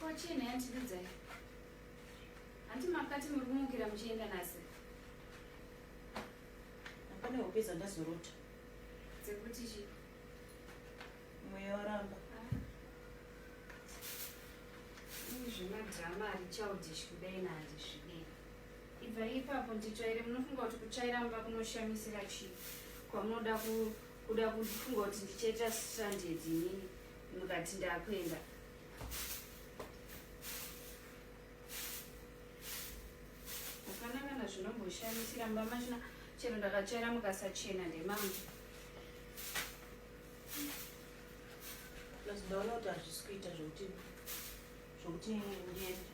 kochini yandibidzai hanti makati muri kumukira muchienda nasi hapana hope dzandazorota dzekuti chi mweya waramba zvemadrama ari childish kudai naandizvii ibvai ipapo nditsvaire munofunga kuti kutsvaira mumba kunoshamisira chii kwamunoda kuda kufunga kuti ndichaita stranded inini mukati ndakuenda hapana kana zvinomboshamisira mumba machina chero ndakatsvaira mukasachena ndemangu ndaona kuti hazvisi kuita zvokuti zvokuti ndiende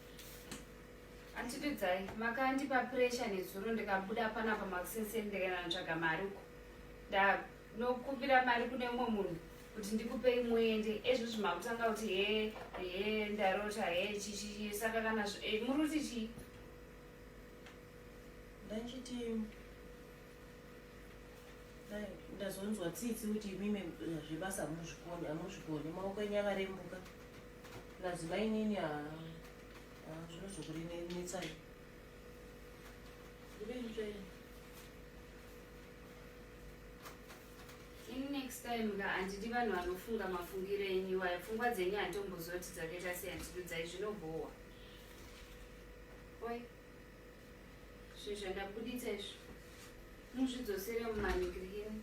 Anti Dudzai, makandipa pressure nezuro ndikabuda panapa makusenseni ndikaenda kutsvaga mari uko. Ndanokumbira mari kune umwe munhu kuti ndikupei muende ezvizvi makutanga kuti he he ndarota he chichi saka kana eh, muri kuti chii? Ndachiti ndazonzwa tsitsi kuti imimi eh, zvebasa hamuzvikoni hamuzvikoni maoko enyu akarembuka plus mainini haa next time ka handidi vanhu vanofunga mafungiro enyu iwayo pfungwa dzenyu handitombozioti dzakaita sei handidudzai zvinobhohwa oi zvinhu zvandabuditsa izvo muzvidzosere mumanikirikini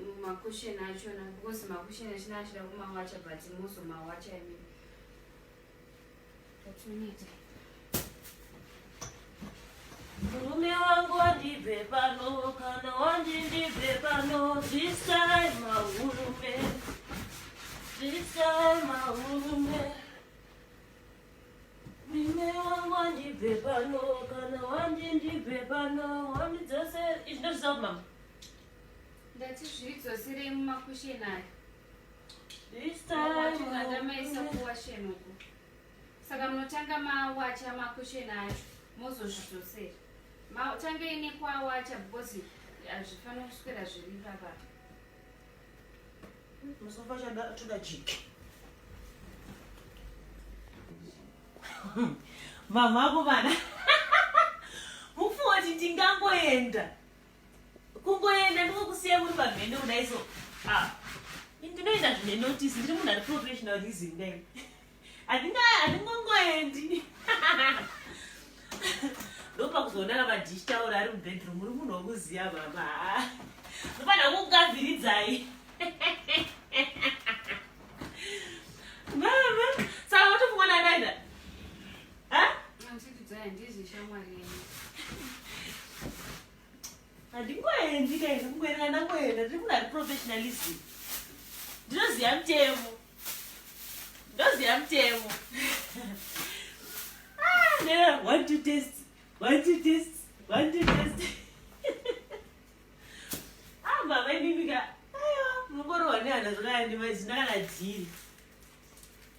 mumakusheni achona because makusheni achina achida kumawacha but muzomawacha imii Murume wangu wandibve pano kana wandindibve pano this time mahurume this time mahurume murume wangu wandibve pano kana wandindibve pano wandidzose izvi ndozvizva kumama ndati zviridzoserei mumakusheni ayo saka munotanga mawacha makusheni acho mozozvidzosera matange ine kwawacha because hazvifanira kuswera zviri papa musofa toda jiki mama ako vana mufuwati ndingangoenda kungoenda ndikokusiya muri pamhene kudai so ah, ndinoenda zvine notice ndiri munhu ari professional reason dai handingongoendi ndopakuzoonana madish taura ari mubedroom uri munhu wokuziya baba ndofanira kukugavhiridzai handingoendi kaenda kungoenda ndangoenda tiri munhu ari professionalism ndinoziva mutemo ndoziva mutemo ah, one to test one to test one to test amba ah, vaimimika aiwa mungorohwa nehana zvakayandimazina kana dhiri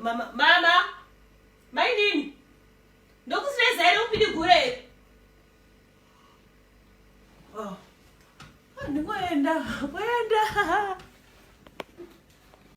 mama mama mainini ndokusireza here upindi gure here oh. ndingoenda kuenda